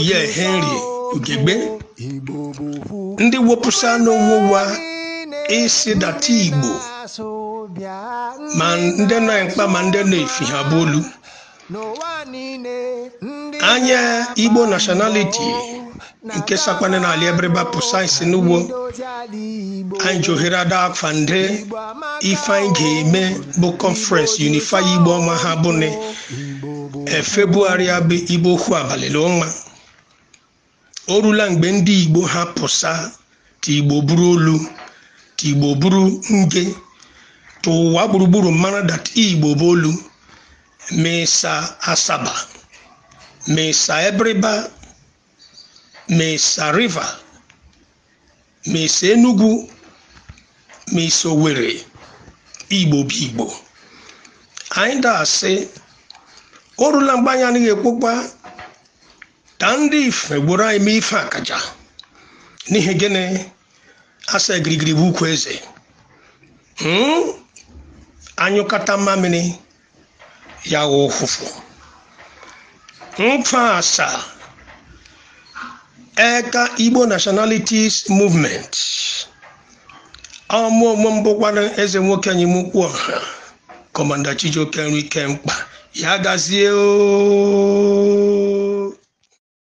ihe henry ugegbe ndị wepụsa n'onwe ụwa ịsị dat igbo ma ndị nọ mkpa ma ndị nọ efi ha bụ olu anya igbo nationality nke sakwana n'ala ebiriba pụsa isi n'ugbo anyị ji ohere ada afa ndị ife anyị ga-eme bụ conference unify igbo ọnwa ha bụ february abụ igbo okwu abalị ọnwa o rula mgbe ndị igbo ha pụsa ka igbo bụrụ olu ka igbo bụrụ nge ka ụwa gburugburu mara dat igbo bụ olu ma ị sa asaba ma ị sa ebiriba ma ị sa riva ma i si Enugu ma i si Owerri Igbo bụ Igbo anyị ga-asị o rula mgbe anyị anaghị ekwekwa ka ndị ife gboro anyị mee ife akaja n'ihi gịnị a sị girigiri bụ ugwu eze a nyụkọta mmamịrị ya wụ ụfụfụ nkaa sa eka igbo nationalities movement ọ mụ onwe m bụkwana eze nwoke anyịm ukwu ọha kọmanda chijioke nri ike mkpa ya gazie oo